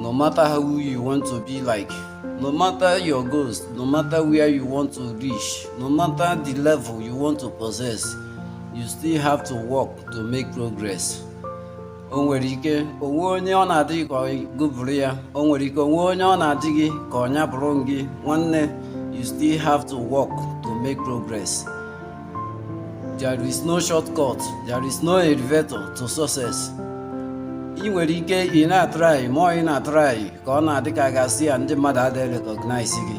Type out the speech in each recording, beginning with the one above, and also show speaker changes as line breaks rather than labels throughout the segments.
No matter who you want to be like, no matter your goals, no matter where you want to reach, no matter the level you want to possess, you still have to work to make progress. o nwere ike o nwee onye ọ na-adị gị ka gị bụrụ ya o nwere ike o nwee onye ọ na-adị gị ka ọ nya bụrụ gị nwanne you still have to work to make progress. There is no shortcut, there is no elevator to success. Ị nwere ike ị na-atrai ma ị na-atrai ka ọ na-adị ka a ga-asị na ndị mmadụ adịghị recognize gị.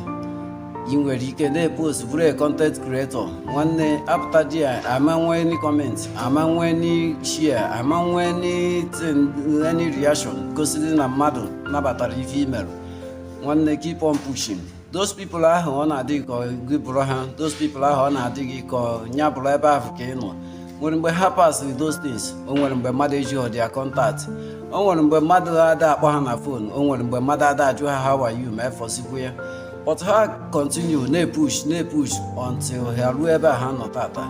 Ị nwere ike na-epost bụrụ a content creator nwanne apụta there ama nwee any comment ama nwee any share ama nwee anything any reaction gosiri na mmadụ nabatara ife i merụ nwanne keep on pushing. those people ahụ ọ na-adị gị ka gị bụrụ ha those people ahụ ọ na-adị gị ka nya bụrụ ebe ahụ ka ị nọ nwere mgbe ha pasịrị those things o nwere mgbe mmadụ ejihọ their contact o nwere mgbe mmadụ ada akpọ ha na phone o nwere mgbe mmadụ ada ajụ ha how are you ma efọsikwu ya but ha continue na-epush na-epush until ha ruo ebe a ha nọ taataa